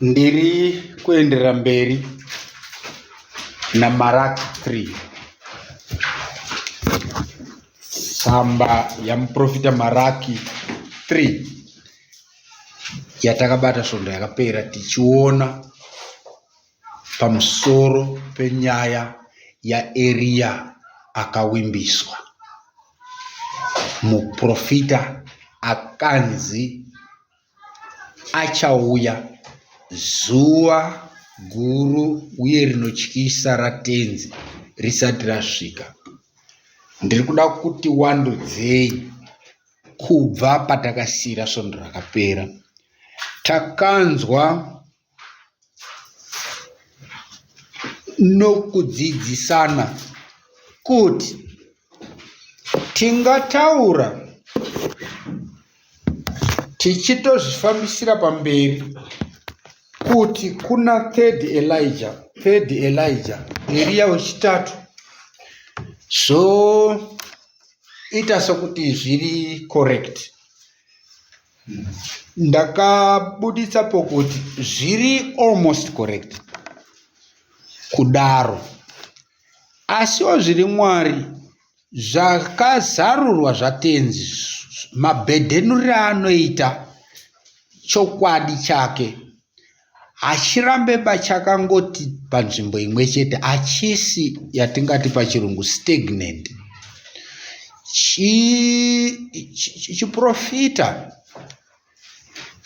ndiri kuendera mberi namarak 3 tsamba yamuprofita maraki 3 yatakabata svondo yakapera tichiona pamusoro penyaya yaeriya akawimbiswa muprofita akanzi Achauya, zuva guru uye rinotyisa raTenzi risati rasvika. Ndiri kuda kuti wandudzei kubva patakasiira svondo rakapera. Takanzwa nokudzidzisana kuti tingataura tichitozvifambisira pamberi kuti kuna third elija third elija eriya wechitatu zvoita sokuti zviri correct ndakabuditsa pokuti zviri almost correct kudaro asiwo zviri mwari zvakazarurwa zvatenzi mabhedhenuriro anoita chokwadi chake hachirambe pachakangoti panzvimbo imwe chete hachisi yatingati pachirungu stagnant chiprofita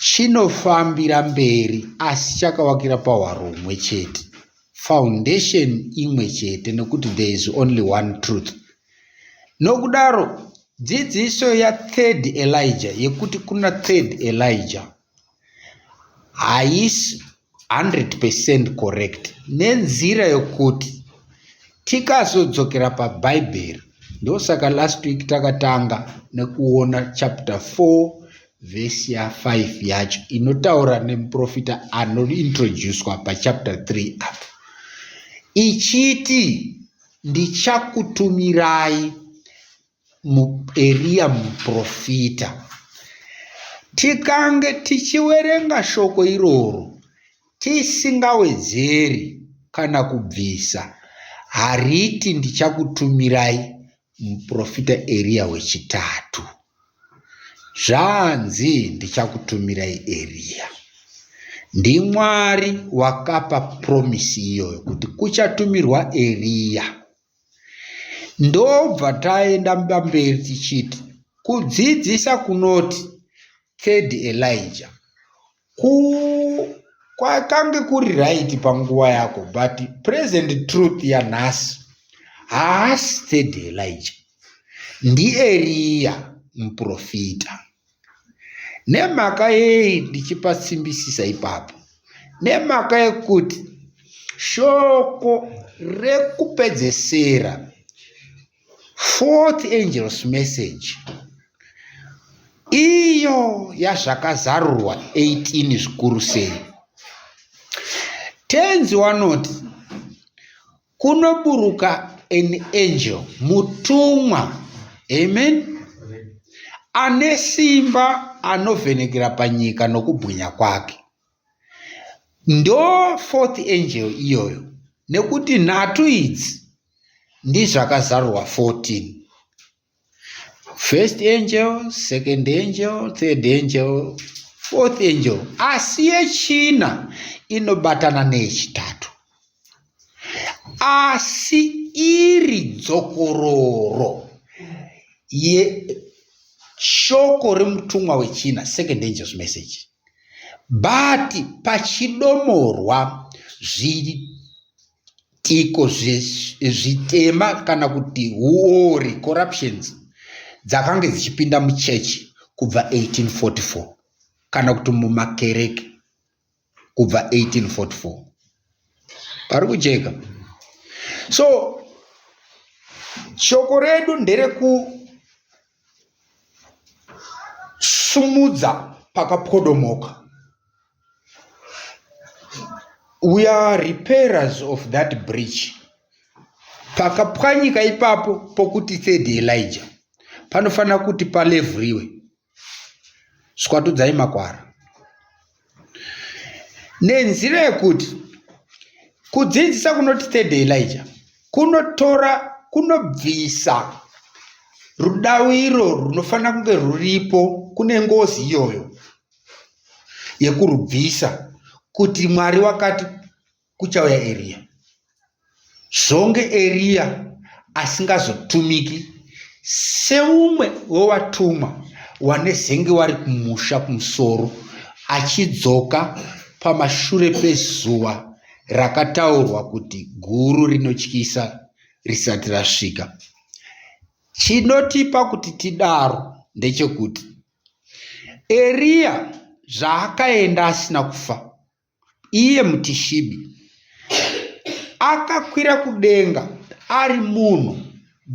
chinofambira mberi asi chakavakira pahwaro humwe chete foundation imwe chete nekuti there is only one truth nokudaro dzidziso yathird elijah yekuti kuna third elijah haisi 100 percent correct nenzira yokuti tikazodzokera pabhaibheri ndosaka last week takatanga nekuona chapter 4 vhesi ya 5 yacho inotaura nemuprofita anointroducwa pachapter 3 apo ichiti ndichakutumirai muEriya muprofita. Tikange tichiwerenga shoko iroro tisingawedzeri kana kubvisa, hariti ndichakutumirai muprofita Eriya wechitatu. Zvanzi ndichakutumirai Eriya. NdiMwari wakapa promisi iyoyo kuti kuchatumirwa Eriya. Ndobva taenda mberi tichiti kudzidzisa kunoti third Elijah. Ku kwakange kuri right panguva yako but present truth yanhasi haasi third Elijah. NdiEriya muprofita. nemhaka yei ndichipatsimbisisa ipapo nemhaka yekuti shoko rekupedzesera fourth angels message iyo yazvakazarurwa 18 zvikuru sei tenzi wanoti kunoburuka an angel mutumwa amen ane simba anovhenekera panyika nokubwinya kwake ndo fourth angel iyoyo nekuti nhatu idzi ndizvakazarurwa 14 first angel second angel third angel fourth angel asi yechina inobatana neyechitatu asi iri dzokororo yeshoko remutumwa wechina second angels message but pachidomorwa zviri tiko zvitema kana kuti huori corruptions dzakange dzichipinda muchechi kubva 1844 kana kuti mumakereke kubva 1844 pari kujeka so shoko redu nderekusumudza pakapwodomoka we are repairers of that bridge pakapwanyika ipapo pokuti third elija panofanira kuti palevhuriwe swatudzai makwara nenzira yekuti kudzidzisa kunoti third elija kunotora kunobvisa rudaviro runofanira kunge ruripo kune ngozi iyoyo yekurubvisa kuti mwari wakati kuchauya eriya zvonge eriya asingazotumiki seumwe wewatumwa wanezenge wari kumusha kumusoro achidzoka pamashure pezuva rakataurwa kuti guru rinotyisa risati rasvika chinotipa kuti tidaro ndechekuti Eriya zvaakaenda asina kufa, iye muTishibi, akakwira kudenga ari munhu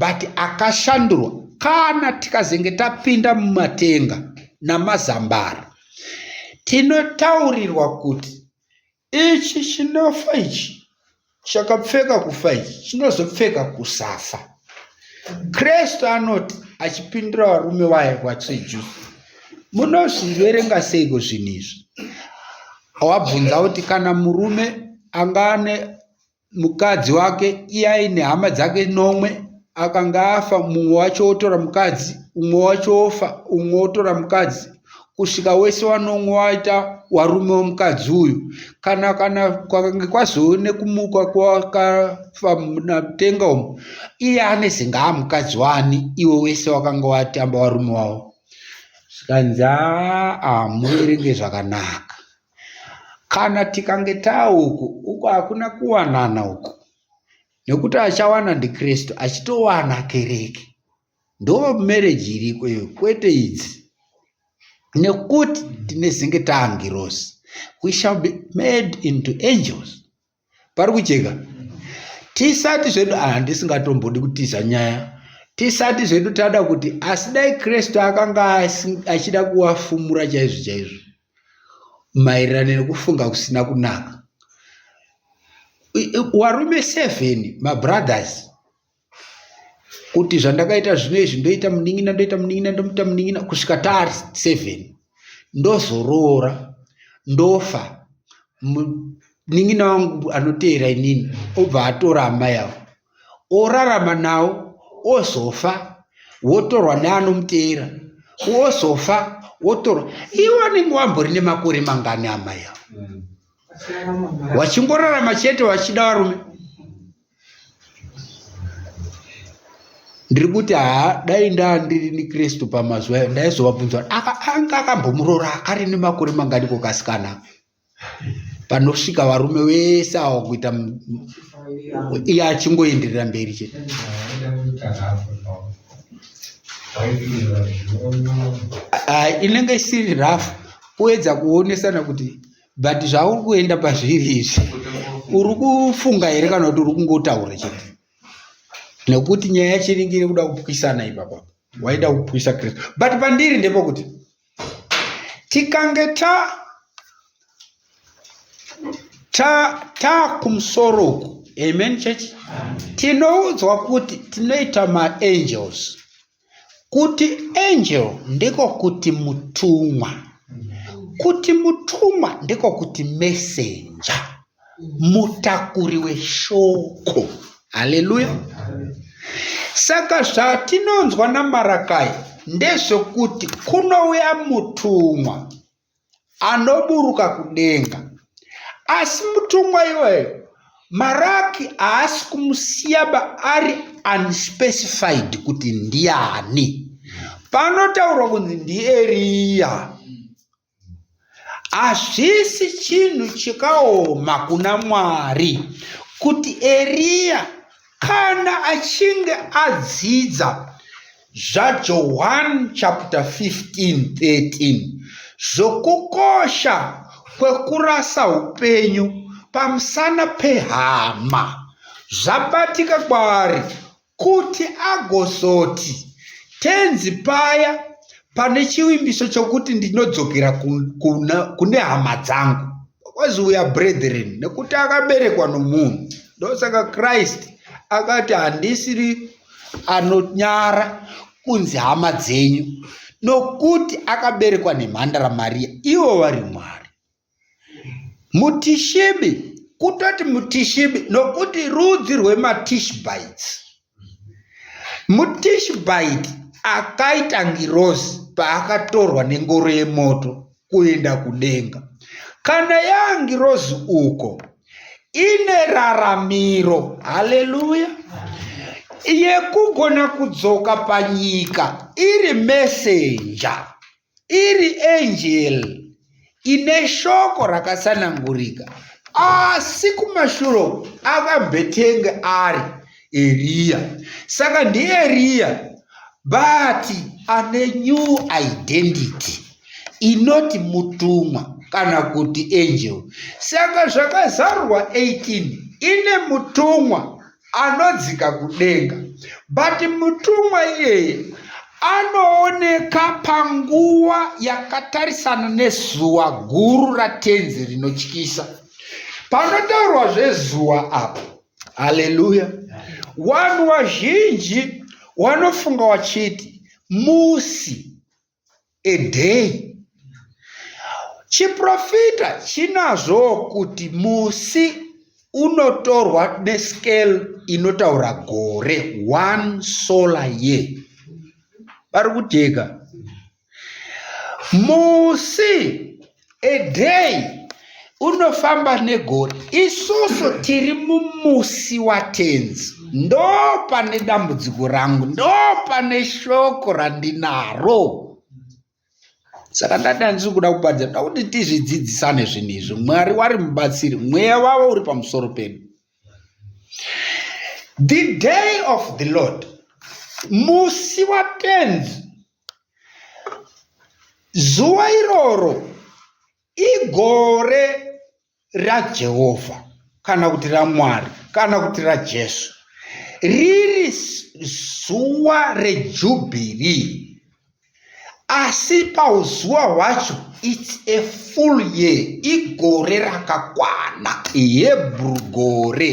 but akashandurwa. Kana tikazenge tapinda mumatenga namazambara, tinotaurirwa kuti Ichi chinofa ichi chakapfeka kufa ichi chinozopfeka kusafa. Kristu anoti achipindura varume vaye vacheju, munozviverenga seiko zvinhu izvi? Wabvunza kuti kana murume anga ane mukadzi wake iye aine hama dzake nomwe akanga afa mumwe wacho wotora mukadzi umwe wacho wofa umwe wotora mukadzi kusvika wese wanomwe waita warume womukadzi uyu kana kana kwakange kwazove nekumuka kwakafa natenga umu iye ane zingaa mukadzi wani iwe wese wakanga watamba warume wavo zvikanzi aa muverenge zvakanaka Kana tikange tauku uku hakuna kuwanana uku nekuti achawana ndikristu achitowana kereke ndo mereji iriko iyo kwete idzi nekuti tinezenge taangirosi we shall be made into angels pari kujeka tisati zvedu handisingatombodi ah, kutiza nyaya tisati zvedu tada kuti asi dai kristu akanga achida kuwafumura chaizvo chaizvo maererano nekufunga kusina kunaka warume seven mabrothers kuti zvandakaita zvino izvi ndoita munin'ina ndoita munin'ina ndomuita munin'ina kusvika taari seven ndozoroora ndofa munin'ina wangu anoteera inini obva atora amai avo orarama nawo ozofa wotorwa neanomuteera wozofa wotorwa iwe anenge wambori nemakore mangani amai avo mm. wachingorarama chete wachida varume ndiri kuti haa dai ndandiri nikristu pamazuva ayo ndaizovabvunza anga akambomuroora akari nemakore mangani kokasikana panosvika varume vese awa kuita iye achingoenderera mberi chete ah, inenge isiri rafu kuedza kuonesana kuti but zvauri kuenda pazviri izvi uri kufunga here kana kuti uri kungotaura chete nekuti nyaya yacho inenge iri kuda kupwisana ipapa waida kupwisa kristu but pandiri ndepokuti tikange ta ta ta kumusoro uku amen church tinoudzwa kuti tinoita maangels Kuti angel ndiko kuti mutumwa. Kuti mutumwa ndiko kuti messenger. Mutakuri weshoko. Haleluya. Saka zvatinonzwa naMarakai ndezvokuti kunouya mutumwa anoburuka kudenga asi mutumwa iweyo maraki haasi kumusiyaba ari unspecified kuti ndiani panotaurwa kunzi ndieriya hazvisi chinhu chikaoma kuna mwari kuti eriya kana achinge adzidza ZvaJohwani chapter 15 13 zvokukosha kwekurasa upenyu pamusana pehama zvabatika kwaari kuti agozoti tenzi paya pane chivimbiso chokuti ndinodzokera kune hama dzangu Because we are brethren, nekuti akaberekwa nomunhu. Ndosaka Christ akati handisiri anonyara kunzi hama dzenyu nokuti akaberekwa nemhandara Maria, ivo vari Mwari. Mutishibi kutoti mutishibi nokuti rudzi rwematishbites MuTishbite akaita ngirozi paakatorwa nengoro yemoto kuenda kudenga. Kana yaangirozi uko, ine raramiro, haleluya, yekugona kudzoka panyika iri mesenja. Iri angel ine shoko rakasanangurika asi kumashuro akambetenge ari eriya saka ndieriya but ane new identity inoti mutumwa kana kuti angel saka zvakazarurwa 18 ine mutumwa anodzika kudenga but mutumwa iyeye anooneka panguva yakatarisana nezuva guru ratenzi rinotyisa panotaurwa zvezuva apo haleluya vanhu vazhinji wanofunga wachiti musi a day chiprofita chinazvowo kuti musi unotorwa nescale inotaura gore one solar year vari kujeka musi a day unofamba negore isusu tiri mumusi watenzi ndo pane dambudziko rangu ndo pane shoko randinaro saka ndati handisi kuda kuparidza nda kuti tizvidzidzisane zvinhu izvi mwari wari mubatsiri mweya wavo uri pamusoro pedu the day of the lord musi watenzi Zuva iroro igore raJehovha kana kuti raMwari kana kuti raJesu. Riri zuva rejubhiri. Asi pauzuva hwacho it's a full year, igore rakakwana, Hebrew gore.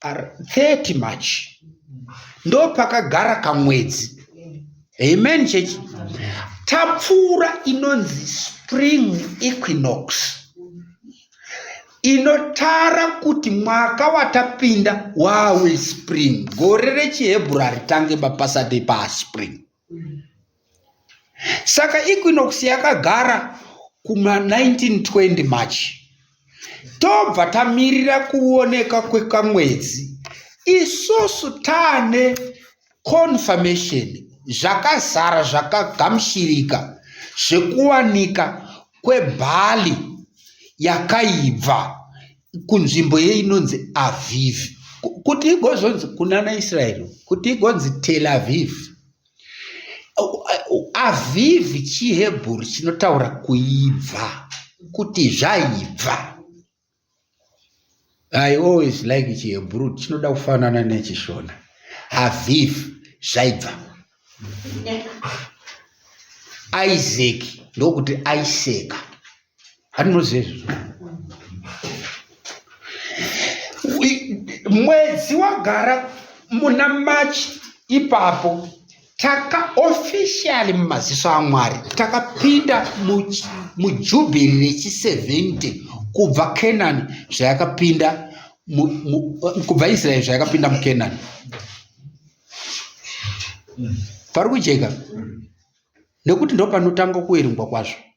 30 march ndopakagara kamwedzi amen chechi tapfuura inonzi spring equinox inotara kuti mwaka watapinda wawe spring gore rechihebhura ritange bapasati paspring mm. saka equinox yakagara kuma 1920 march tobva tamirira kuoneka kwekamwedzi isusu taane confirmation zvakazara zvakagamshirika zvekuwanika kwebhali yakaibva kunzvimbo yeinonzi avivi kuti igozonzi kunana israeri kuti igonzi tel avivi Avivi chiHebheru chinotaura kuibva, kuti zvaibva. I always like chiHebheru chinoda kufanana nechiShona. Aviv zvaibva. Isaac ndokuti aiseka. hatinozezvo mwedzi wagara muna machi ipapo takaofficially mumaziso amwari takapinda mujubhiri rechi70 kubva kenani zvayakapinda kubva israeri zvayakapinda mukenani pari kujeka nekuti ndopanotanga kuerengwa kwazvo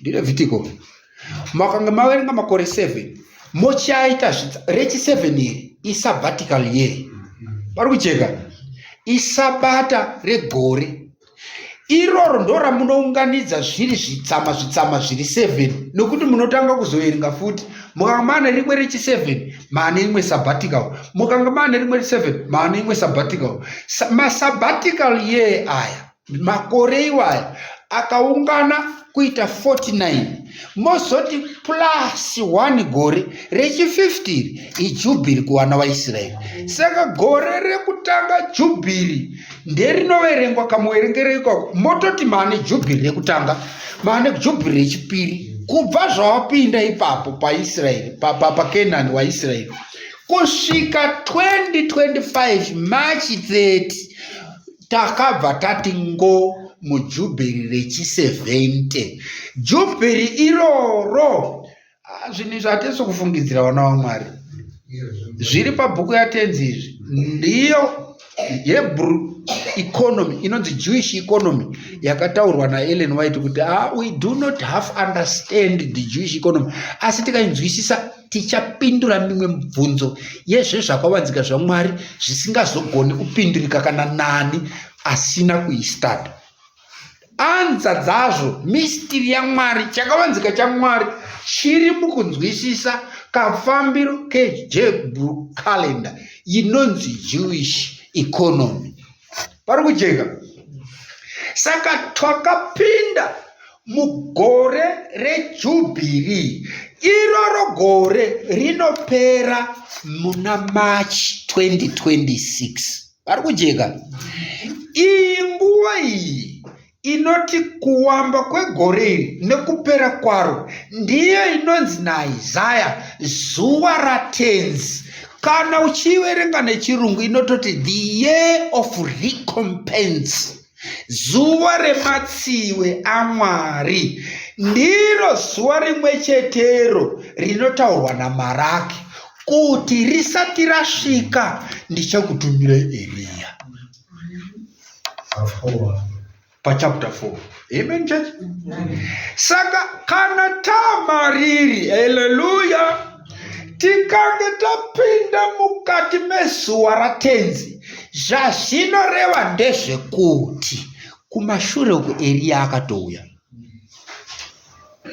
ndirevhitiko makanga maverenga makore 7 mochaita rechi 7 iri isabbatical year pari kucheka isabata regore iroro ndo ramunounganidza zviri zvitsama zvitsama zviri 7 nokuti munotanga kuzoverenga futi mukanga maane rimwe rechi 7 maane imwe sabbatical mukanga maane rimwe rechi 7 maane imwe sabbatical masabbatical yee aya makore iwaya akaungana kuita 49 mozoti plus 1 gore rechi50 ijubhiri kuvana vaisraeri saka gore rekutanga jubhiri nderinoverengwa kamuverengero ikoko mototi maane jubhiri rekutanga maane jubhiri rechipiri kubva zvawapinda ipapo paisraeri pakenani pa, pa waisraeri kusvika 2025 march 30 takabva tati ngo mujubheri rechi70 jubheri iroro ah, zvinhu izvi hatisi kufungidzira vana vamwari zviri pabhuku yatenzi izvi ndiyo hebrew economy inonzi jewish economy yakataurwa naellen white kuti ah, we do not half understand the jewish economy asi tikainzwisisa tichapindura mimwe mibvunzo yezvezvakavanzika zvamwari zvisingazogoni kupindurika kana nani asina kuistad anza dzazvo mistiri yamwari chakavanzika chamwari chiri mukunzwisisa kafambiro kejebru calendar inonzi jewish economy pari kujeka saka twakapinda mugore rejubhiri iroro gore rinopera muna march 2026 pari kujeka iyi nguva iyi inoti kuwamba kwegore iri nekupera kwaro ndiyo inonzi naisaya zuva ratenzi kana uchiiverenga nechirungu inototi the year of recompense zuva rematsiwe amwari ndiro zuva rimwe chetero rinotaurwa namaraki kuti risati rasvika ndichakutumira eriya pachapter 4 amen church saka kana tamariri haleluya tikange tapinda mukati mezuva ratenzi zvazvinoreva ndezvekuti kumashure uku eriya akatouya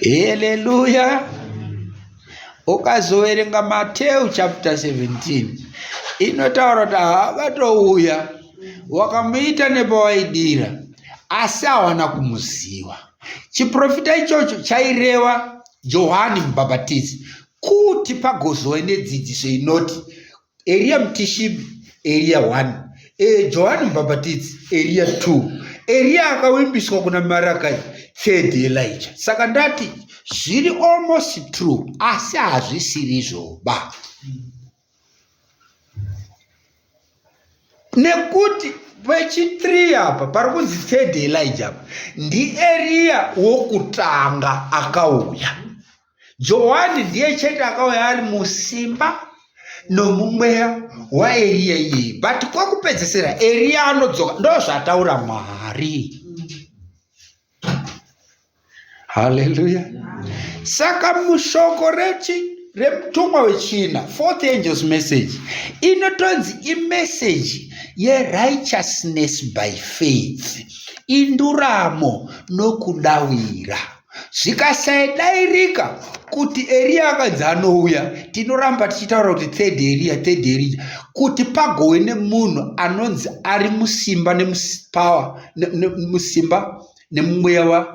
haleluya ukazoverenga mateu chapter 17 inotaura kuti haavatouya wakamuita nepawaidira asi hawana kumuziva chiprofita ichocho chaireva johani mubhabhatizi kuti pagozove nedzidziso inoti Eria Mtishibi, Eria 1, e, Johani Mbhabhatidzi, Eria 2, Eria akawimbiswa kuna Marakai, third Elijah. Saka ndati zviri almost true asi hazvisiri zvoba. Nekuti vechi3 apa pari kunzi third Elijah apa ndiEria wokutanga akauya. johani ndiye chete akauya ari musimba nomumweya waeriya iyeye but kwekupedzisira eriya anodzoka ndozvataura mwari haleluya saka mushoko rechi remutumwa wechina fourth angels message inotonzi imeseji yerighteousness by faith induramo nokudawira zvikasadairika kuti eriya akanzi anouya tinoramba tichitaura kuti third eriya third eriya kuti pagowe nemunhu anonzi ari musimba nemupower musimba nemumweya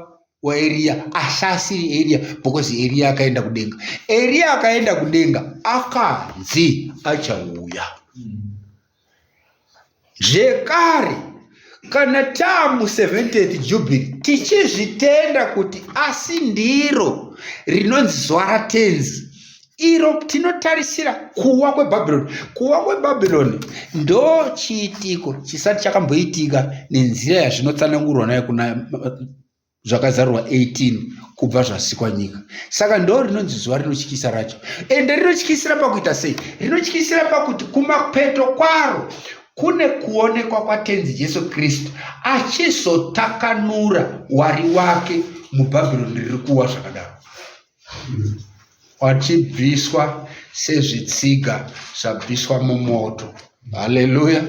waeriya asi asiri eriya because eriya akaenda kudenga eriya akaenda kudenga akanzi achauya mm. zvekare kana tamu 70th jubilee tichizvitenda kuti asi ndiro rinonzi zuva ratenzi iro tinotarisira kuwa kwebhabhironi kuwa kwebhabhironi ndo chiitiko chisati chakamboitika nenzira yazvinotsanangurwa nayo kuna zvakazarurwa 18 kubva zvasikwa nyika saka ndo rinonzi zuva rinotyisa racho ende rinotyisira pakuita sei rinotyisira pakuti kumapeto kwaro kune kuonekwa kwatenzi jesu kristu achizotakanura wari wake mubhabhironi riri kuwa zvakadaro wachibviswa sezvitsiga zvabviswa mumoto haleluya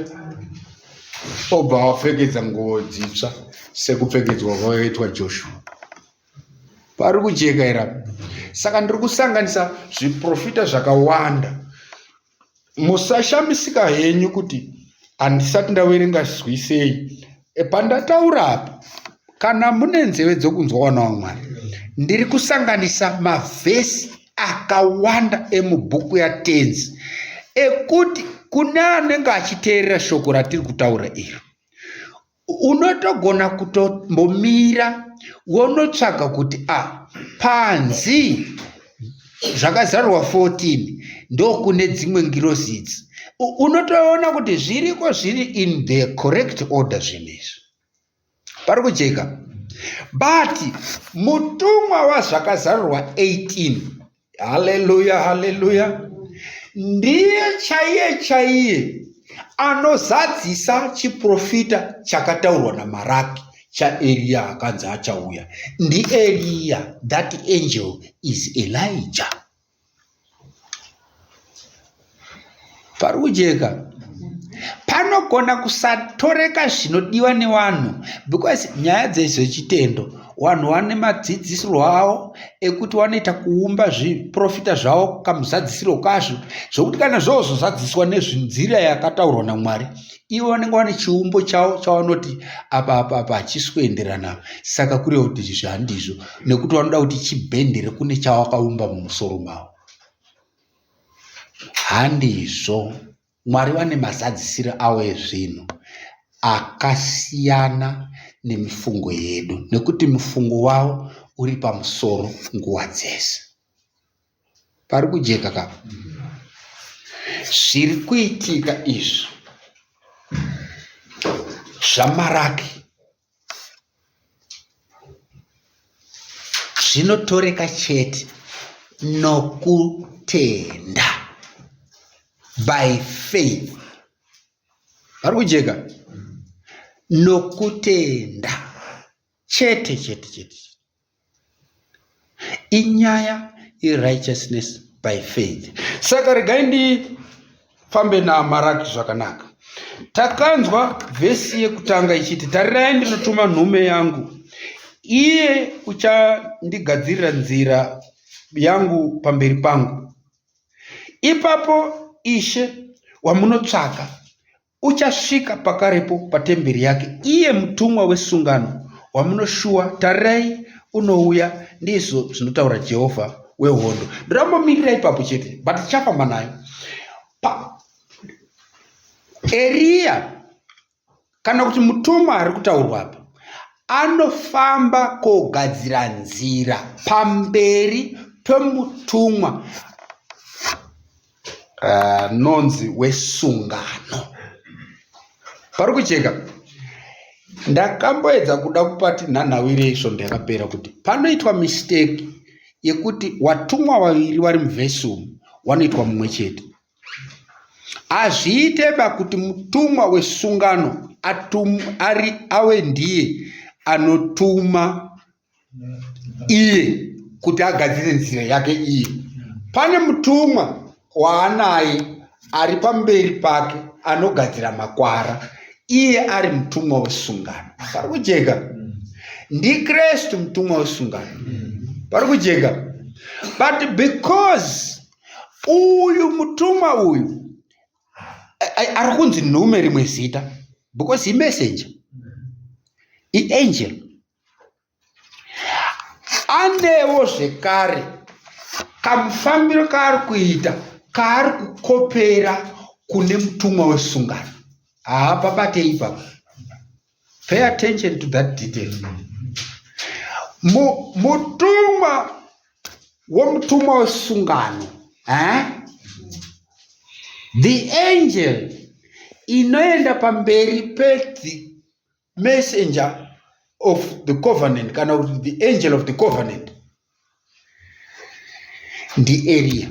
obva wapfekedza nguvo dzitsva sekupfekedzwa kwakaitwa joshua pari kujeka irapo saka ndiri kusanganisa zviprofita zvakawanda musashamisika henyu kuti handisati ndaverenga zwisei e, pandataura apa kana mune nzeve dzokunzwa wana wamwari ndiri kusanganisa mavhesi akawanda emubhuku yatenzi ekuti kune anenge achiteerera shoko ratiri kutaura iro unotogona kutombomira wonotsvaga kuti a ah, panzi zvakazarurwa 14 ndokune dzimwe ngirozi idzi unotoona kuti zviriko zviri in the correct order zvinhu izvi pari kujeka but mutumwa wazvakazarurwa 18 Haleluya, haleluya. Ndiye chaiye chaiye anozadzisa chiprofita chakataurwa namaraki chaeriya akanzi achauya ndieriya that angel is elijah pari kujeka panogona kusatoreka zvinodiwa nevanhu because nyaya dzezvechitendo vanhu vane madzidzisirwo avo ekuti vanoita kuumba zviprofita zvavo kamuzadzisiro kazvo zvokuti kana zvozozadziswa nezvinzira yakataurwa namwari ivo vanenge vane chiumbo chavo chavanoti apa apa apa hachisi kuenderana saka kureva kuti izvi zvandizvo nekuti vanoda kuti chibhendere kune chavakaumba mumusoro mavo Handizvo. Mwari vane mazadzisiro avo ezvinhu akasiyana nemifungo yedu nekuti mufungo wavo uri pamusoro nguva dzese. Pari kujeka ka? Zviri kuitika izvi zvamaraki zvinotoreka chete nokutenda by faith vari kujeka nokutenda chete chete chete inyaya yerighteousness by faith saka regai ndifambe naamaraki zvakanaka takanzwa vhesi yekutanga ichiti tarirai ndinotuma nhume yangu iye uchandigadzirira nzira yangu pamberi pangu ipapo ishe wamunotsvaka Uchasvika pakarepo patemberi yake, iye mutumwa wesungano wamunoshuwa, tarirai, unouya, ndizvo zvinotaura Jehovha wehondo. Ndorambomirira ipapo chete, but tichafamba nayo. Eriya kana kuti mutumwa ari kutaurwa apa anofamba kogadzira nzira pamberi pemutumwa anonzi uh, wesungano pari kucheka ndakamboedza kuda kupati nhanhawire isvondo yakapera kuti panoitwa mistake yekuti watumwa vaviri vari muvhesi umu wanoitwa mumwe chete hazviite ba kuti mutumwa wesungano atum, ari awe ndiye anotuma iye kuti agadzire nzira yake iye pane mutumwa waanaye ari pamberi pake anogadzira makwara iye ari mutumwa wesungano pari kujeka ndikristu mutumwa wesungano pari kujeka but because uyu mutumwa uyu ari kunzi nhume rimwe zita because imessenger iangel anewo zvekare kamufambiro kaari kuita kaari kukopera kune mutumwa wesungano haa pabatei papa pay attention to that detail mutumwa womutumwa wesungano eh? the angel inoenda pamberi messenger of the covenant kana kuti the angel of the covenant ndieriya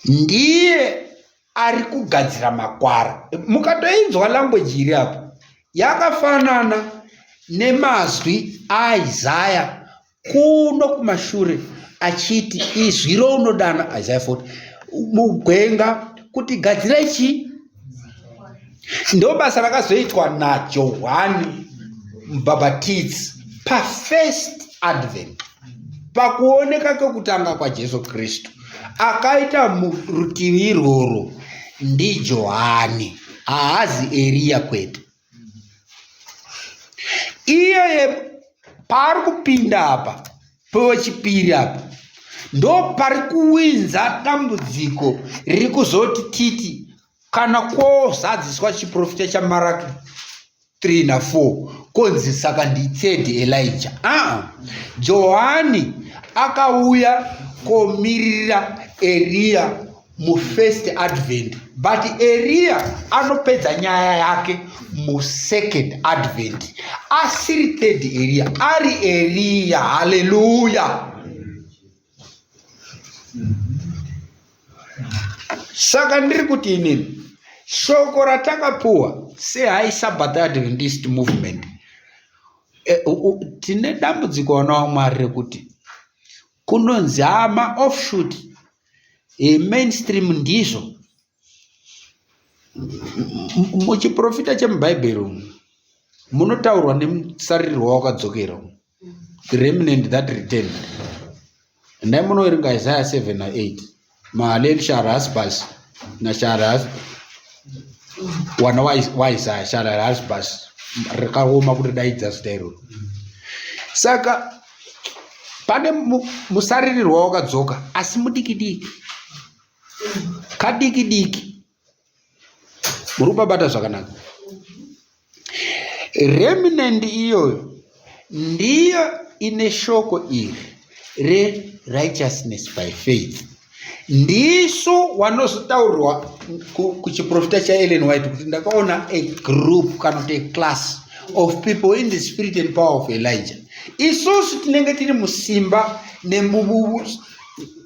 ndiye ari kugadzira makwara mukatoinzwa language iri apo yakafanana nemazwi aisaya kuno kumashure achiti izwi rounodana isaya 40 mugwenga kuti gadzirai chii ndo basa rakazoitwa najohwani mubhabhatidzi pafirst advent pakuoneka kwekutanga kwajesu kristu akaita murutivi irworwo ndijohani haazi eriya kwete iyeye paari kupinda apa pewechipiri apa ndo pari kuwinza dambudziko riri kuzoti titi kana kwozadziswa chiprofita chamaraki 3 na 4 konzi saka nditsedi elija aa johani akauya komirira eriya mufirst advent but eriya anopedza nyaya yake musecond advent asiri third eriya ari eriya haleluya saka ndiri kuti inini shoko ratakapuwa sehai sabbath adventist movement e, tine dambudziko vana wamwari rekuti kunonzi hama offshoot e, mainstream ndizvo muchiprofita chemubhaibheri umu munotaurwa nemusarirwa wakadzokera umu the remnant that return ndai munoerenga isaya 7 na 8 mahalel shaharasbas na shaharas wana waisaya shaharasbas rakaoma kuti daidza zita iroro saka pane musaririrwa wakadzoka asi mudiki diki kadiki diki muri kupabata zvakanaka remnant iyoyo ndiyo ine shoko iri rerighteousness by faith ndisu wanozotaurwa kuchiprofita chaellen white kuti ndakaona a group kana kuti a class of people in the spirit and power of elijah isusu tinenge tiri musimba nemububu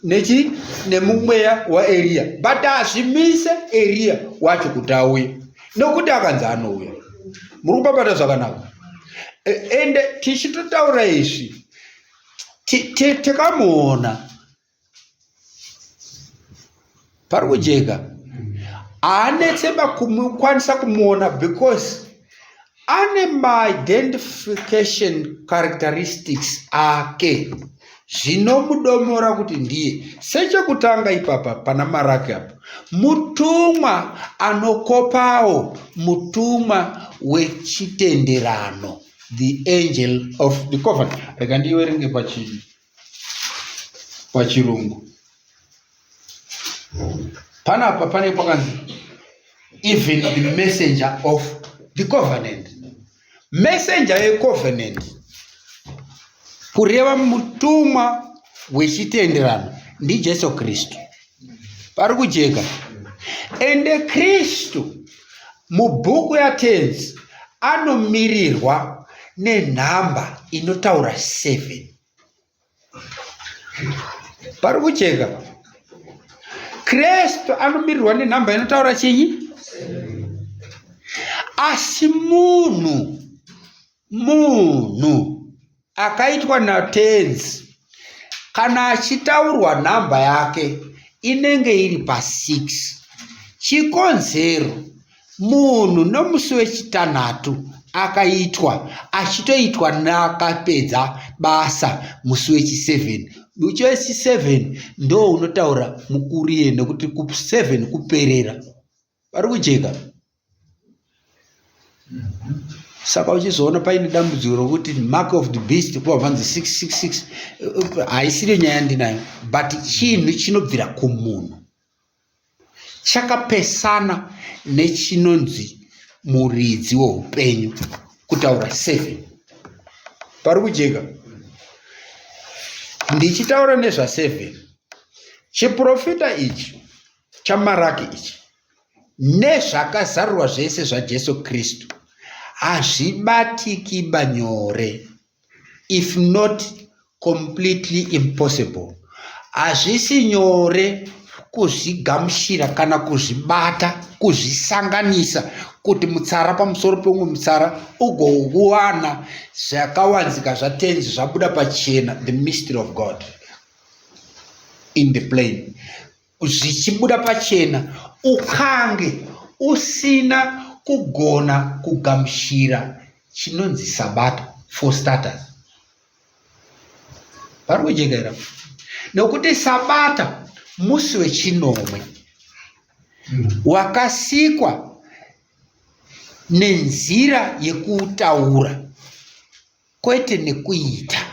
nechi nemumweya waeriya but hazvimise eriya wacho kuti auye nokuti akanzi anouya muri kupapata zvakanaka e, ende tichitotaura izvi tikamuona pari kujeka haanetse kukwanisa kumuona because ane maidentification characteristics ake zvinomudomora kuti ndiye sechekutanga ipapa pana maraki apo mutumwa anokopawo mutumwa wechitenderano the angel of the covenant rega ndiiwerenge pachii pachirungu panapa pane pakanzi even the messenger of the covenant messenger yecovenant kureva mutumwa wechitenderano ndijesu kristu pari kujeka ende kristu mubhuku yatenzi anomirirwa nenhamba inotaura 7 pari kujeka kristu anomirirwa nenhamba inotaura chinyi asi munhu Munhu akaitwa natenzi kana achitaurwa nhamba yake inenge iri pa6 chikonzero munhu nomusi wechitanhatu akaitwa achitoitwa neakapedza basa musi wechi7 musi wechi7 ndo unotaura mukurie nekuti ku7 kuperera Vari kujeka. Saka uchizoona paine dambudziko rokuti mark of the beast kuva vanzi 666 eh, haisiriyo nyaya ndinayo but chinhu chinobvira kumunhu chakapesana nechinonzi muridzi weupenyu kutaura seven pari kujeka ndichitaura nezvaseven chiprofita ichi chamaraki ichi nezvakazarurwa zvese zvajesu kristu hazvibatiki banyore if not completely impossible hazvisi nyore kuzvigamuchira kana kuzvibata kuzvisanganisa kuti mutsara pamusoro peumwe mutsara ugouwana zvakawanzika zvatenzi zvabuda pachena the mystery of god in the plane zvichibuda pachena ukange usina kugona kugamuchira chinonzi sabata for starters vari kujekera nokuti sabata musi wechinomwe wakasikwa nenzira yekutaura kwete nekuita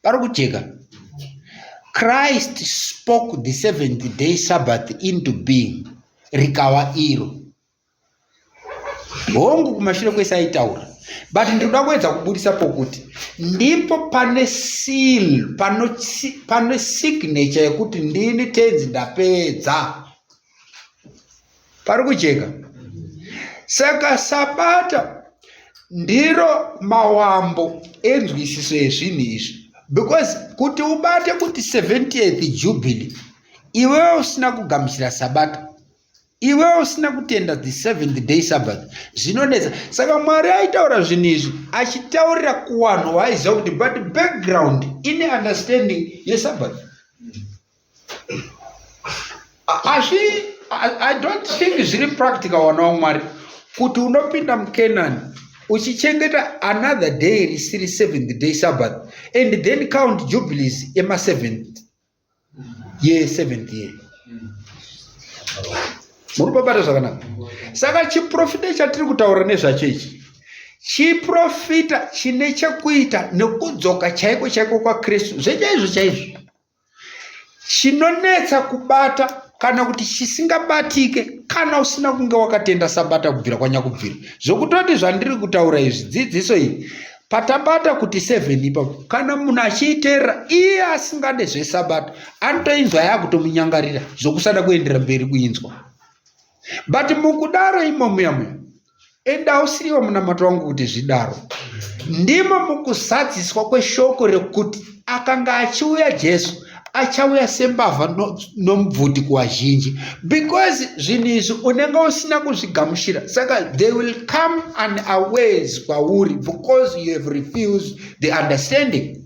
pari kujeka christ spoke the seventh day sabbath into being rikava iro hongu kumashure kwese aitaura but ndinoda kuedza kubudisa pokuti ndipo pane seal pane signature yekuti ndini tenzi ndapedza pari kujeka saka sabata ndiro mawambo enzwisiso yezvinhu izvi because kuti ubate kuti 70th jubilee iwewe usina kugamuchira sabata iwewe usina kutenda the seventh day sabbath zvinonetsa saka mwari aitaura zvinhu izvi achitaurira kuwanhu waaizia kuti but background ine understanding yesabbath asi i don't think zviri practical wana wamwari kuti unopinda mucanani uchichengeta another day risiri seventh day sabbath and then count jubilees emaseventh ye seventh year muri babata zvakanaka saka chiprofita chatiri kutaura nezvacho ichi chiprofita chine chekuita nekudzoka chaiko chaiko kwakristu zvechaizvo chaizvo chinonetsa kubata kana kuti chisingabatike kana usina kunge wakatenda sabata kubvira kwanyakubvira zvokutoti zvandiri kutaura izvi dzidziso iyi patabata kuti seven ipapo kana munhu achiiteerera iye asingade zvesabata anotoinzwa yakutomunyangarira zvokusada kuendera mberi kuinzwa but mukudaro imomuyamuya enda ausiiwa munamato wangu kuti zvidaro ndimo mukuzadziswa kweshoko rekuti akanga achiuya jesu achauya sembavha nomubvuti kuvazhinji because zvinhu izvi unenge usina kuzvigamushira saka they will come and aways kwauri because you have refused the understanding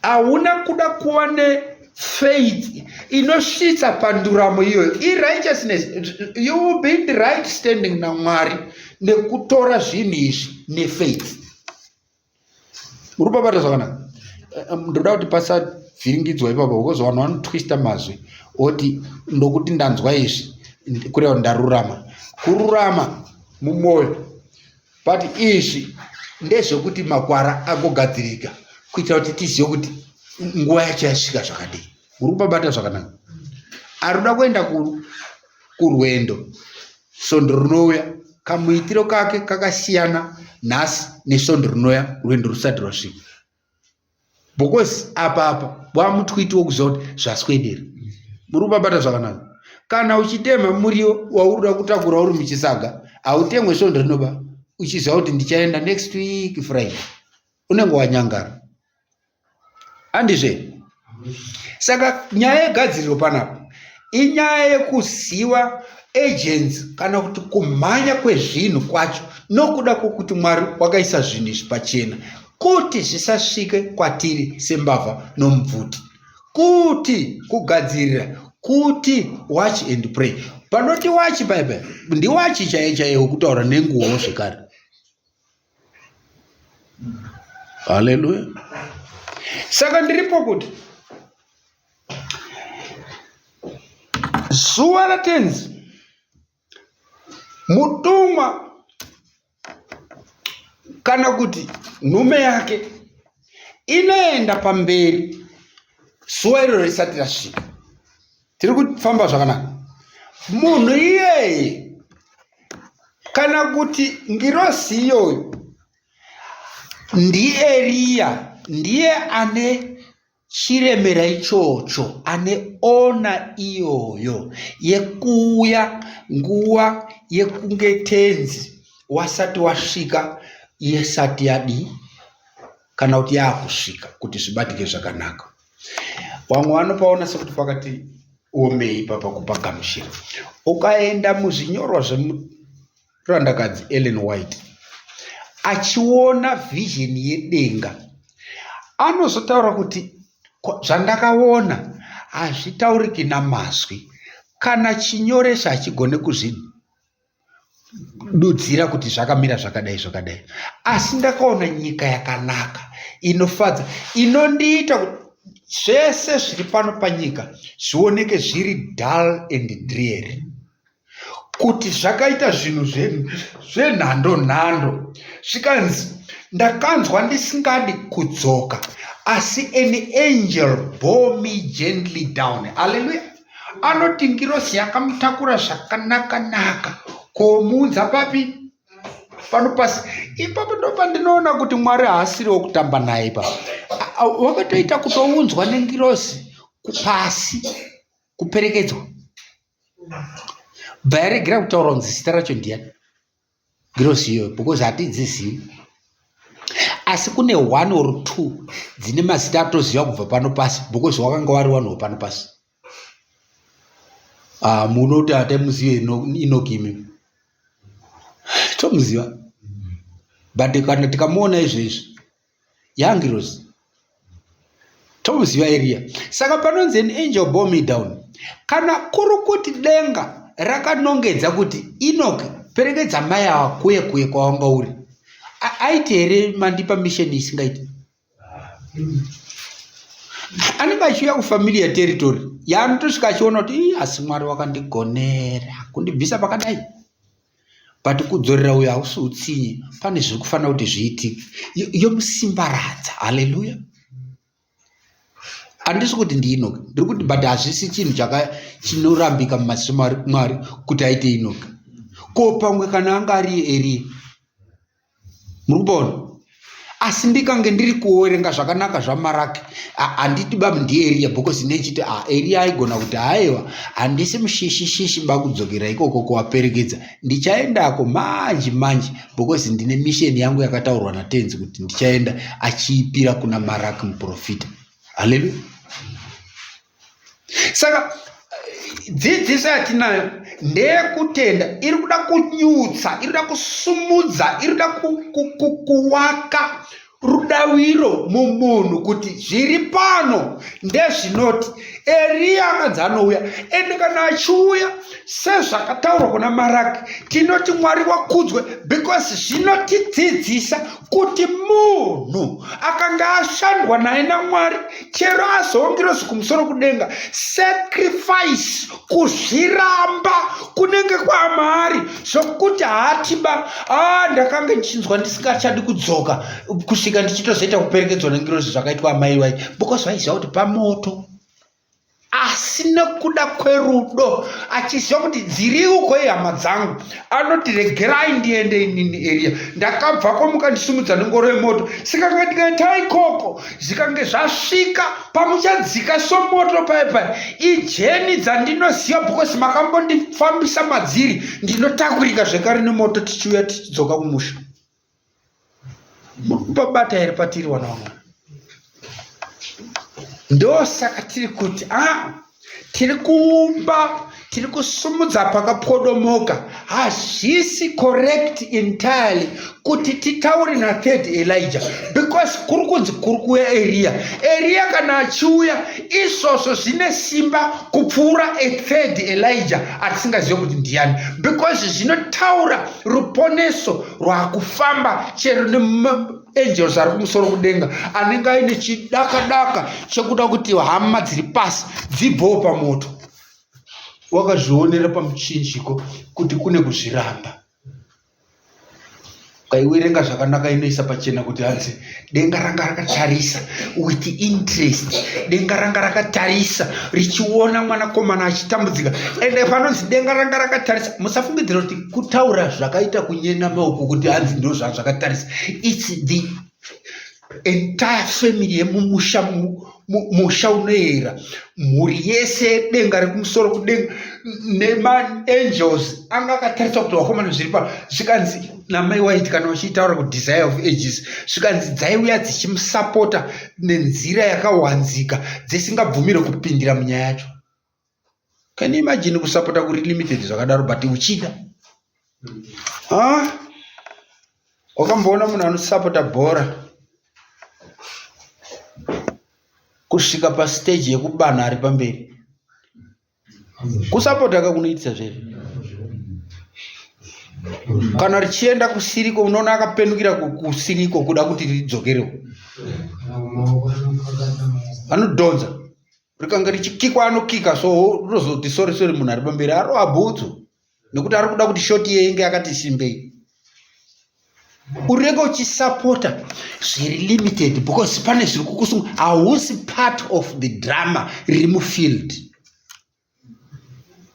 hauna mm. kuda kuva nefaith inosvitsa panduramo iyoyo irighteousness you will be in the right standing namwari nekutora zvinhu izvi nefaith uri papata zvakanaka eh, eh, ndoda kuti pasavhiringidzwa ipapo because vanhu vanotwista mazwi oti ndokuti ndanzwa izvi kureva kuti ndarurama kururama mumwoyo but izvi ndezvekuti makwara agogadzirika kuitira kuti tizive kuti nguva yacho yasvika zvakadii uri kupabata zvakanaka ari kuda kuenda kurwendo svondo rinouya kamuitiro kake kakasiyana nhasi nesvondo rinouya rwendo rusati rwasvika because apa apa wamutwiti wokuziva kuti zvaswedera muri kubabata zvakanaka kana uchitema muriwo wauroda kutakura uri muchisaga hautengwe svondo rinoba uchiziva kuti ndichaenda next week friday unenge wanyangara andizve saka nyaya yegadziriro panapa inyaya yekuziva agents kana kuti kumhanya kwezvinhu kwacho nokuda kwokuti mwari wakaisa zvinhu izvi pachena kuti zvisasvike kwatiri sembavha nomubvuti kuti kugadzirira kuti watch and pray panoti wachi paipa ndiwachi chaiye chaiye wekutaura nenguwo zvekare haleluya saka ndiripo kuti zuva ratenzi mutumwa kana kuti nhume yake inoenda pamberi zuva iroro risati rasvika tiri kufamba zvakanaka munhu iyeye kana kuti ngirosi iyoyo ndieriya ndiye ane chiremera ichocho ane ona iyoyo yekuuya nguva yekunge tenzi wasati wasvika yesati yadii kana kuti yaakusvika kuti zvibatike zvakanaka vamwe vanopaona sekuti pakati omei papa kupagamushira ukaenda muzvinyorwa zvemurandakadzi ellen white achiona vision yedenga anozotaura kuti zvandakaona hazvitauriki namazwi kana chinyoresa hachigone kuzvinhu dudzira kuti zvakamira zvakadai zvakadai asi ndakaona nyika yakanaka inofadza inondiita zvese zviri pano panyika zvioneke zviri dull and dreary kuti zvakaita zvinhu zvenhando nhando zvikanzi ndakanzwa ndisingadi kudzoka asi an angel bore me gently down haleluya anoti ngirozi yakamutakura zvakanaka naka komuudza papi pano pasi ipapo ndo pandinoona kuti mwari haasiri wokutamba naye ipapo wakatoita kutounzwa nengirozi kupasi kuperekedzwa bva yaregera kutaura kunzi zita racho ndiyani Girosi iyoyo because hatidzizivi. Asi kune one or two dzine mazita atoziva kubva pano pasi because wakanga wari one wepano pasi. Ah, munoti hatamuzive Enoch imi. Tomuziva. But kana tikamuona izvezvi yaangirozi tomuziva eriya saka panonzi an angel bore me down kana kuri kuti denga rakanongedza kuti enok perekedza mai awa kuye kuye kwawanga uri aiti here mandipa misheni isingaiti anenge achiuya kufamiliya territory yaanotosvika achiona kuti asi mwari wakandigonera kundibvisa pakadai but kudzorera uyo hausi utsinye pane zvekufanira kuti zviitike yomusimbaradza haleluya handisi kuti ndiinoka ndiri kuti but hazvisi chinhu chaka chinorambika mumaziso mwari kuti aite inoka ko pamwe kana anga ari eriya muri kuona asi ndikange ndiri kuoerenga zvakanaka zvamaraki handiti babu ndieriya because nechiti a ah, eriya aigona kuti haiwa handisi mushishishishi bakudzokera ikoko kuvaperekedza ndichaendako manji manji because ndine misheni yangu yakataurwa natenzi kuti ndichaenda achiipira kuna maraki muprofita haleluya saka dzidziso yatinayo ndeyekutenda iri kuda kunyutsa iri kuda kusumudza iri kuda kuwaka rudaviro mumunhu kuti zviri pano ndezvinoti eriya anganzi anouya ende kana achiuya sezvakataurwa kuna maraki tinoti mwari wakudzwe because zvinotidzidzisa kuti munhu akanga ashandwa naye namwari chero azongirozi kumusoro kudenga sacrifice kuzviramba kunenge kwamari zvokuti haatiba a ah, ndakange ndichinzwa ndisingachadi kudzoka kusvika ndichitozoita kuperekedzwa nengirozi zvakaitwa amai vai because vaiziva kuti pamoto asi nekuda kwerudo achiziva kuti dziriuko ihama dzangu anoti regerai ndiende inini eriya ndakabva komuka ndisimudza nengoro yemoto sikanga ndikaita ikoko zvikange zvasvika pamuchadzika somoto paye paye ijeni dzandinoziva bhokosi makambondifambisa madziri ndinotakurika zvekare nemoto tichiuya tichidzoka kumusha murikupabata here patiri wana wamwari ndosaka tiri kuti a ah, tiri kuumba tiri kusumudza pakapodomoka hazvisi correct entirely kuti titaure nathird elijah because kuri kunzi kuri kuuya eriya eriya kana achiuya izvozvo zvine simba kupfuura athird elijah atisingazive kuti ndiyani because zvinotaura ruponeso rwakufamba chero neangels ari kumusoro kudenga anenge aine chidakadaka chekuda kuti hama dziri pasi dzibvewo pamoto wakazvionera pamuchinjiko kuti kune kuzviramba ukaiwerenga zvakanaka inoisa pachena kuti hanzi denga ranga rakatarisa with interest denga ranga rakatarisa richiona mwanakomana achitambudzika ende panonzi denga ranga rakatarisa musafungidzira kuti kutaura zvakaita kunyena maoko kuti hanzi ndo zvazvakatarisa its the entire family yemumusha musha unoyera mhuri yese denga rekumusoro kudenga nemaangels anga akatarisa kuti vakomana zviri pa zvikanzi namai waiti kana vachitaura kuti desire of ages zvikanzi dzaiuya dzichimusapota nenzira yakawanzika dzisingabvumire kupindira munyaya yacho can you imagine kusapota kuri limited zvakadaro but uchida wakamboona munhu anosapota bhora kusvika pastage yekubanha ari pamberi kusapota ka kunoitisa zvere kana richienda kusiriko unoona akapenukira kusiriko kuda kuti ridzokerewo anodhonza rikanga richikikwa anokika so rinozoti sori sori munhu ari pamberi arova bhutsu nekuti ari kuda kuti shoti iye inge yakati simbei urega uchisapota zviri limited because pane zviri kukusunga hausi part of the drama riri mufield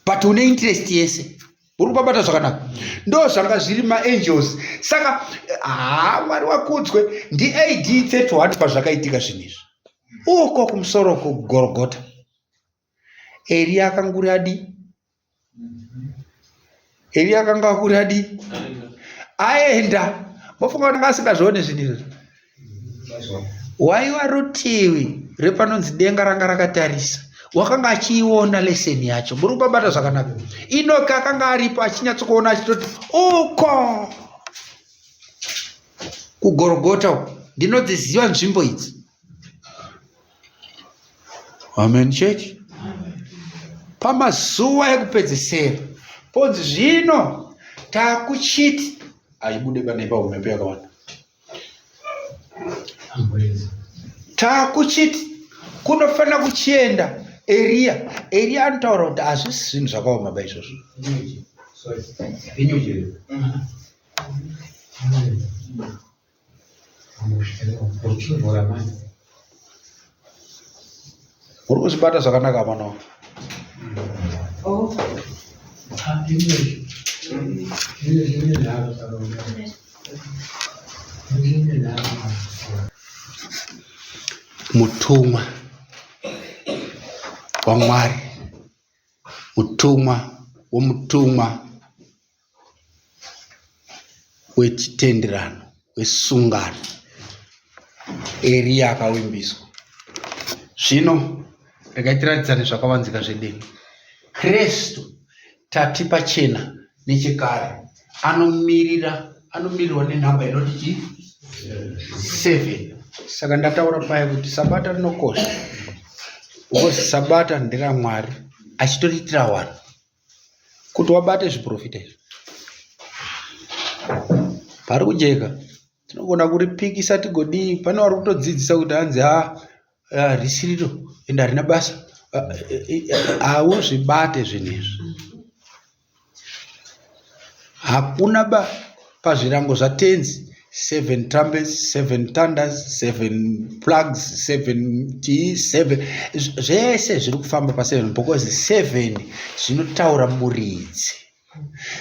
but une interest yese uri kubabata zvakanaka ndo zvanga zviri maangels saka haa mwari wakudzwe ndiad 31 pazvakaitika zvinhu izvi uko kumusoro kugorogota eriya akanguri adi eriya akanga akuri adi aenda mofunga kuti anga asingazvione zvinhu izvi waiva rutivi repanonzi denga ranga rakatarisa wakanga achiiona leseni yacho muri kubabata zvakanaka inoki akanga aripo achinyatsokuona achitoti uko kugorogota uko ndinodziziva nzvimbo idzi amen church pamazuva ekupedzesera ponzi zvino takuchiti aibude pane pahumhepo yakawanda taakuchiti kunofanira kuchienda eriya eriya anotaura kuti hazvisi zvinhu zvakaoma ba izvozvo Uri kuzvibata zvakanaka mwana wangu. Mutumwa waMwari, mutumwa womutumwa wechitenderano wesungano eriya akavimbiswa zvino regai tiratidzane zvakavanzika zvedenga kristu tati pachena nechekare anomirira anomirirwa nenhamba inoti chi seven saka ndataura paye kuti sabata rinokosha because sabata nderamwari achitotiitira wanhu kuti wabate zviporofita izvi pari kujeka tinogona kuripikisa tigodii pane wari kutodzidzisa kuti hanzi ha risiriro ende harina basa hauzvibate zvinhu izvi Hakuna ba pazvirango zvatenzi seven trumpets seven thunders seven plugs seven chii seven zvese zviri kufamba paseven because seven zvinotaura muridzi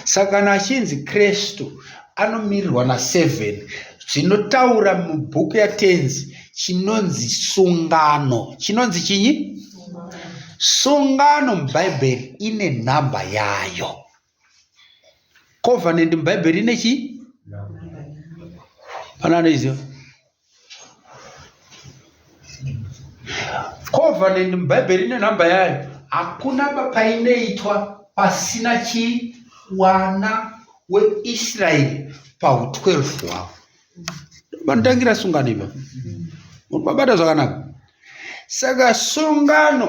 saka kana achinzi kristu anomirirwa naseven zvinotaura mubhuku yatenzi chinonzi sungano chinonzi chinyi sungano mubhaibheri ine nhamba yayo covenant mubhaibheri ine chii pane anoiziva covenant mubhaibheri ine nhamba yayo hakuna painoitwa pasina chii wana weisraeri pahu 12 hwavo vanotangira sungano iva vabata zvakanaka saka sungano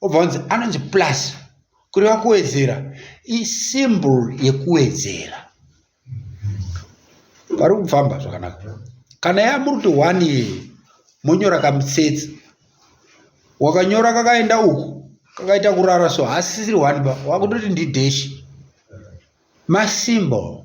obva wanzi anonzi plus kureva kuwedzera isymbol yekuwedzera pari kufamba zvakanaka kana yamuri kuti one ye monyora kamutsetse wakanyora kakaenda uku kakaita kurara so hasisiri one ba wakutoti ndideshi masymbol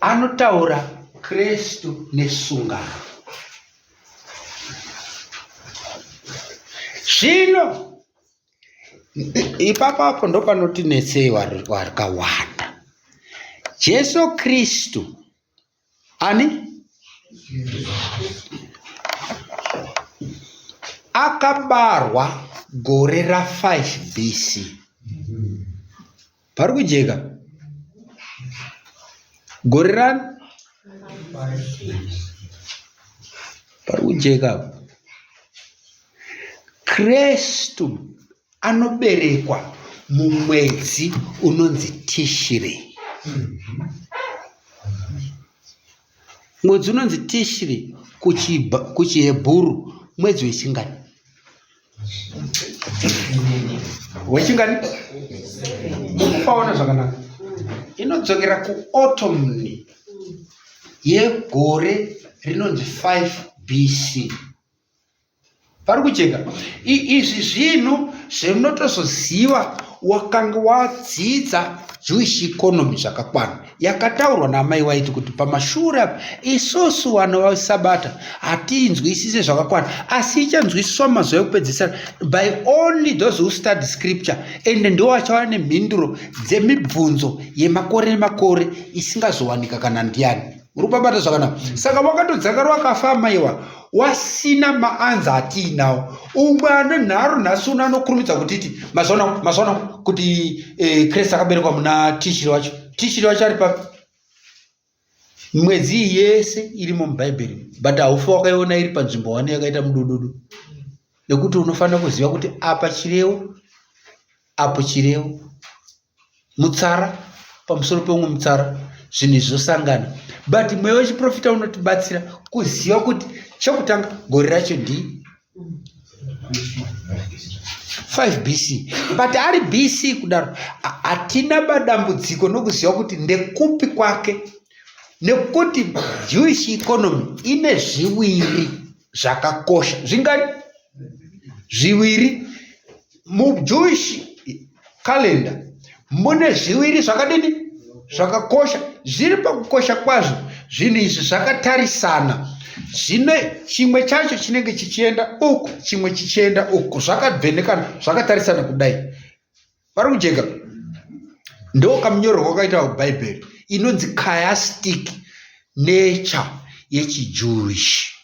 anotaura kristu nesungano zvino ipapo apo ndopanotinetsei wakawanda jesu kristu ani akabarwa gore ra5 bc pari kujeka gore rani pari kujeka apa kristu anoberekwa mumwedzi unonzi tishirei Mwedzi unonzi Tishri kuchiHebhuru mwedzi wechingani? Wechingani? Mukupaona zvakanaka. Inodzokera kuotomni yegore rinonzi 5 BC. vari kujeka izvi zvinhu zvemunotozoziva wakanga wadzidza jewish economy zvakakwana yakataurwa naamai waiti kuti pamashure apa isusu vana vasabata hatiinzwisise zvakakwana asi ichanzwisiswa mazuva ekupedzisira by only those who study scripture ende ndiwo vachava nemhinduro dzemibvunzo yemakore nemakore isingazowanika kana ndiani uri kubabata zvakanaka saka wakatodzakari wakafa amaiwa wasina maanza atiinawo umwe ane nharo nhasi uno anokurumidza kutiti mazvaona mazvaona kuti eh, krist akaberekwa muna tishiri wacho tishiri wacho ari papi mwedzi iyi yese irimo mubhaibheri but haufi wakaiona iri panzvimbo wani yakaita mudududu nekuti unofanira kuziva kuti apa chirewo apo chirevo mutsara pamusoro peumwe mutsara zvinhu izvi zvosangana but mweya wechiprofita unotibatsira kuziva kuti chekutanga gore racho ndii 5 bc but ari bc kudaro hatina badambudziko nokuziva kuti ndekupi kwake nekuti jewish economy ine zviviri zvakakosha zvingani zviviri mujewish kalenda mune zviviri zvakadini zvakakosha zviri pakukosha kwazvo zvinhu izvi zvakatarisana zvine chimwe chacho chinenge chichienda uku chimwe chichienda uku zvakavhenekana zvakatarisana kudai vari kujeka ndokamunyorerwa kwakaita bhaibheri inonzi chiastic nature yechijewish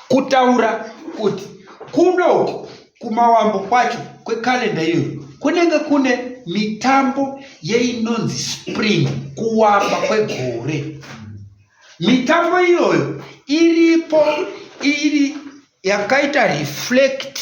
kutaura kuti kunoku kumawambo kwacho kwekalenda iyoyo kunenge kune mitambo yeinonzi spring kuwamba kwegore mitambo iyoyo iripo iri yakaita reflect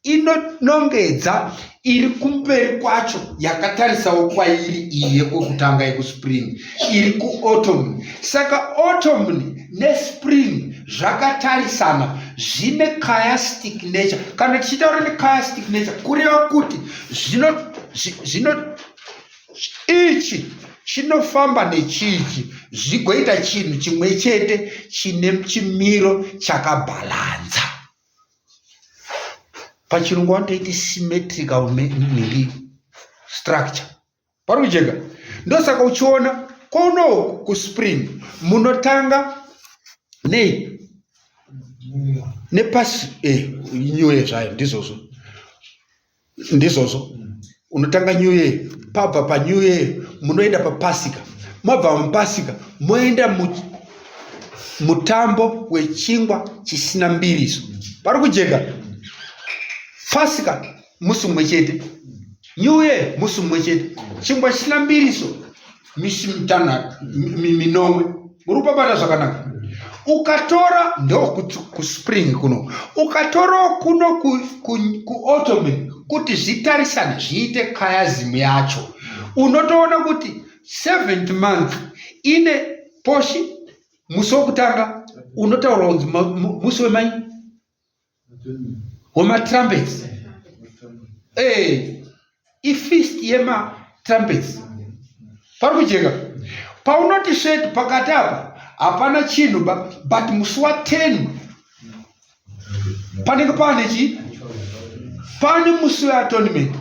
inonongedza iri kumberi kwacho yakatarisawo kwairi iyi yekokutanga yekuspring iri kuautumn saka autumn nespring zvakatarisana zvine chiastic nature kana tichitaura nechiastic nature kureva kuti zvino zvino ichi chinofamba nechichi zvigoita chinhu chimwe chete chine chimiro chakabhalanza pachirungu vanotoiti symmetrical miri structure pari kujeka ndosaka uchiona kono kuspring munotanga nei nepasi eh, nyuye zvayo ndizvozvo ndizvozvo unotanga new year pabva panew year munoenda papasika mabva mupasika moenda mutambo wechingwa chisina mbiriso pari kujeka pasika musi mumwe chete new year musi mumwe chete chingwa chisina mbiriso misi mitanhatu minomwe muri kupabata zvakanaka ukatora ndokuspring kuno ukatorawo kuno kuotome kuti zvitarisane zviite kayazimu yacho unotoona kuti seventh month ine poshi musi wokutanga unotaura kunzi musi wemai wematrumpets eh, ifist yematrumpets pari kujeka paunoti shed pakati apa hapana chinhu but musi wa 10 panenge paane chii pane musi weatonement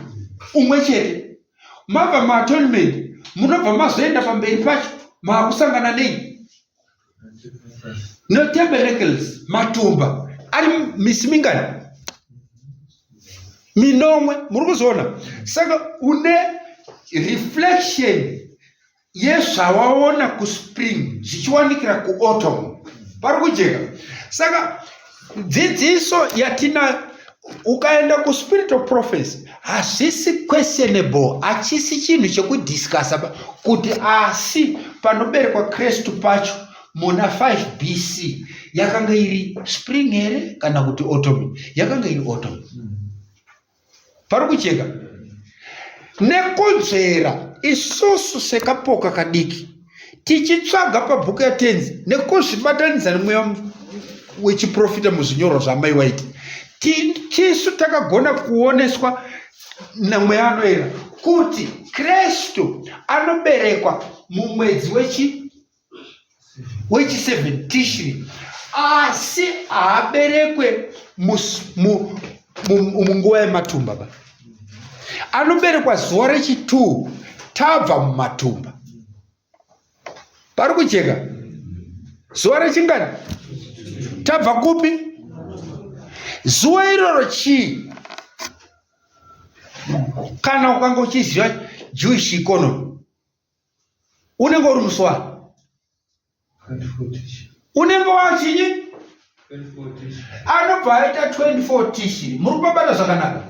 umwe chete mabva maatonement munobva mazoenda pamberi pacho maakusangana nei netabernacles matumba ari misi mingani minomwe muri kuzoona saka une reflection yezvawaona kuspring zvichiwanikira kuautumn pari kujeka saka dzidziso yatina ukaenda kuspirit of prophecy hazvisi questionable hachisi chinhu chekudiscasa kuti asi panoberekwa kristu pacho muna 5 bc yakanga iri spring here kana kuti autumn yakanga iri autumn mm -hmm. pari kujeka nekunzvera isusu sekapoka kadiki tichitsvaga pabhuku yatenzi nekuzvibatanidza nemweya wechiprofita muzvinyorwa zvaamai waiti tisu takagona kuoneswa namweya anoera kuti kristu anoberekwa mumwedzi wechi wechi 7 tishri asi haaberekwe munguva yematumba ba anoberekwa zuva rechi 2 tabva mumatumba pari kujeka zuva rechingani tabva kupi zuva iroro chii kana ukanga uchiziva jewish economy unenge uri muswari unenge wachinyi anobva aita 24 tishi muri kubabata zvakanaka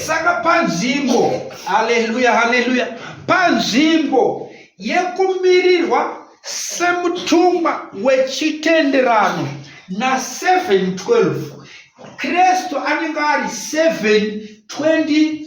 saka panzvimbo haleluya haleluya panzvimbo yekumirirwa semutumwa wechitenderano na712 kristu anenge ari 720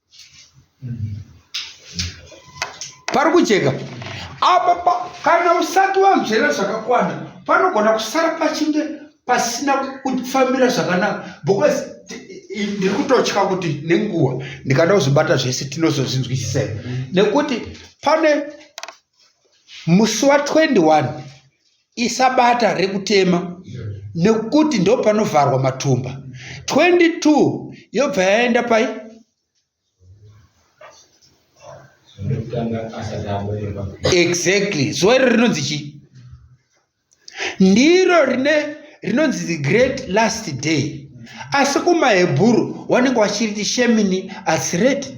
pari kujeka apa pa, kana usati wamzvera zvakakwana panogona kusara pachinge pasina kufambira zvakanaka because ndiri kutotya kuti nenguva ndikada kuzvibata zvese tinozozvinzwisisa here nekuti pane musi wa 21 isabata rekutema nekuti ndo panovharwa matumba 22 yobva yaenda pai exactly zuva iro rinonzi chii ndiro rine rinonzi the great last day asi kumahebhuru wanenge wachiriti shemini asireti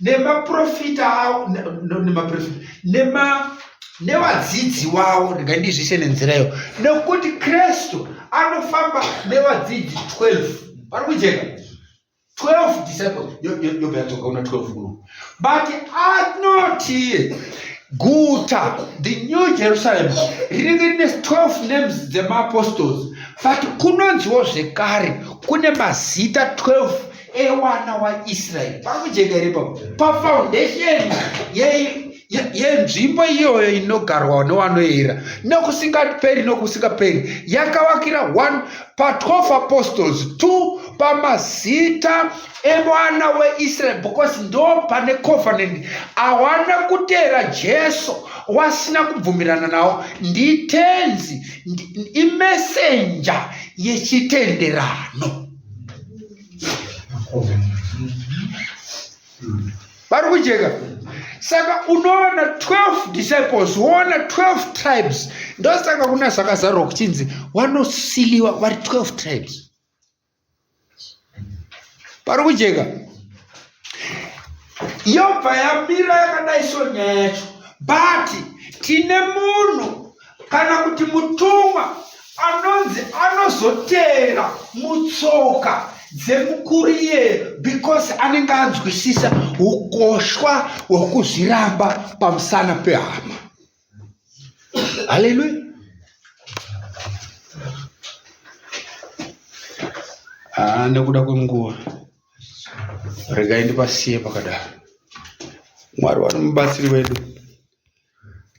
nemaprofita awo nemaprofita nema nevadzidzi wavo ndingandizvise nenzira iyo nekuti kristu anofamba nevadzidzi 12 vari kujeka 12 disciples yobva yadzoka una 12 uno but anoti guta the new jerusalem rinenge rine 12 names dzemaapostles but kunonziwo zvekare kune mazita 12 ewana waisraeri pari kujeka here ipapo pafoundation yenzvimbo iyoyo inogarwa newanoera nokusingaperi nokusingaperi yakavakira one pa12 apostles two pamazita emwana weisraeri because ndo pane covenant awana kutera jesu wasina kubvumirana nawo nditenzi imesenja yechitenderano vari kujeka saka unoona 12 disciples woona 12 tribes ndosaka kuna zvakazarwa kuchinzi wanosiliwa vari 12 tribes pari kujeka yobva yamira yakadai so nyaya yacho but tine munhu kana kuti mutumwa anonzi anozotera mutsoka dzemukuru iyeyo because anenge anzwisisa ukoshwa hwokuzviramba pamusana pehama haleluya ah, nekuda kwenguva regai ndipasiye pakadaro mwari wari mubatsiri wedu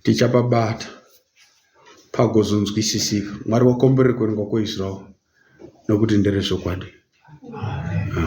tichapabata pagozonzwisisika. Mwari wakomborerwa kuverenga kweizwi ravo nokuti nderezvokwadi. Amen.